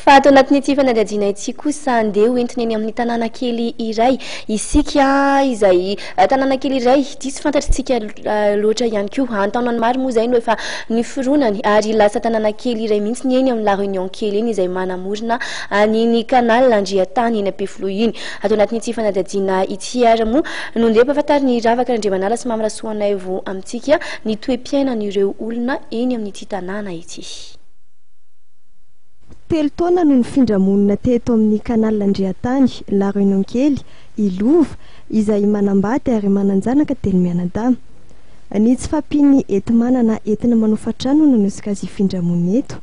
Fa ato anatin'ity fanadihadiana ity kosa, andeha hoentina eny amin'ny tanàna kely iray isika, izay tanàna kely iray diso fantatrintsika loatra ihany koa. An-taonany maro moa izay no efa niforonany, ary lasa tanàna kely iray mihitsy ny eny amin'ny La Réunion kely eny, izay manamorona an'iny Canal Andriantany eny Ampefiloha iny. Ato anatin'ity fanadihadiana ity ary moa no ndeha ampahafantarin'i Ravaka Randriamanala sy Mamy Rasoanaivo amintsika ny toe-piainan'ireo olona eny amin'ity tanàna ity. Telo taona no nifindra monina teto amin'ny Canal Andriantany, La Renonkely, i Lova, izay manambady ary manan-janaka telo mianadahy. Ny tsy fahampian'ny enti-manana entina manofa trano no nanosika azy hifindra monina eto.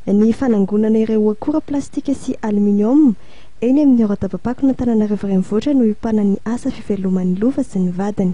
Ny fanangonana ireo akora plastika sy aluminium eny amin'ny Horadabampako an'Antananarivo Renivohitra no iompanan'ny asa fiveloman'i Lova sy ny vadiny.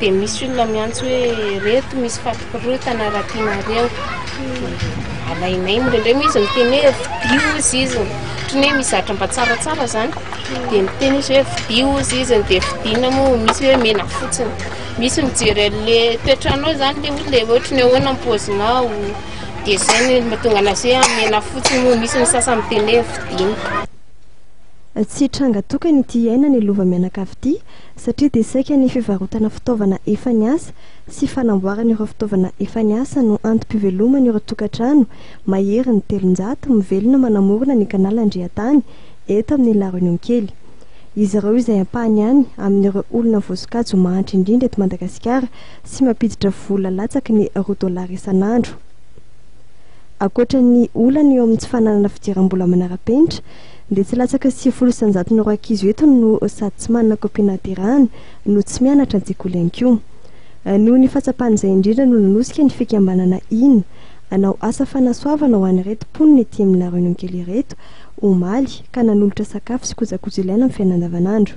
Dia misy olona miantso hoe reto misy fampikorontana raha tianareo alainay indraindray moa izy miteny hoe vidio ozy izy ohatran'ny hoe misy zavatra mba tsaratsara zany dia miteny izy hoe vidio ozy izy dia vidiana moa misy hoe mena fotsiny misy mijery an'le toetrano eo zany le olona dia ohatran'ny hoe ahoana ny paozinao dia zay ny mahatonga anazy hoe mena fotsiny moa misy ny sasany miteny hoe vidiana. Tsy tranga tokana ity iainana i Lova mianakavy ity. satria dia saika ny fivarotana fitaovana efa niasa sy fanamboarana ireo fitaovana efa niasa no antom-piveloman' ireo tokantrano maherin'ny telonjato mivelona manamorona ny Canal Andriantany eto amin'ny La Réunion kely. Izy ireo izay ampahany ihany amin'ireo olona voasokajy ho mahantra indrindra eto Madagasikara sy mampiditra vola latsaky ny roa dolara isan'andro. Ankoatra ny olana eo amin'ny tsy fananana fidiram-bola manara-penitra, dia tsy latsaka sivifolo isanjaton'ny ireo ankizy eto no sady tsy manana kopia nahaterahana no tsy mianatra an-tsekoly ihany koa. Noho ny fahatsapan'izay indrindra no nanosika ny fikambanana Ina hanao asa fanasoavana ho an'ireto mponina ety amin'ny La Renonkely ireto, omaly, ka nanolotra sakafo sy kojakoja ilaina amin'ny fiainana andavanandro.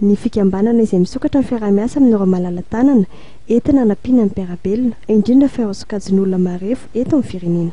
Ny fikambanana izay misokatra ny fiaraha-miasa amin'ireo malala-tanana entina hanampiana ny mpiara-belona, indrindra fa ireo sokajin'olona marefo eto amin'ny firenena.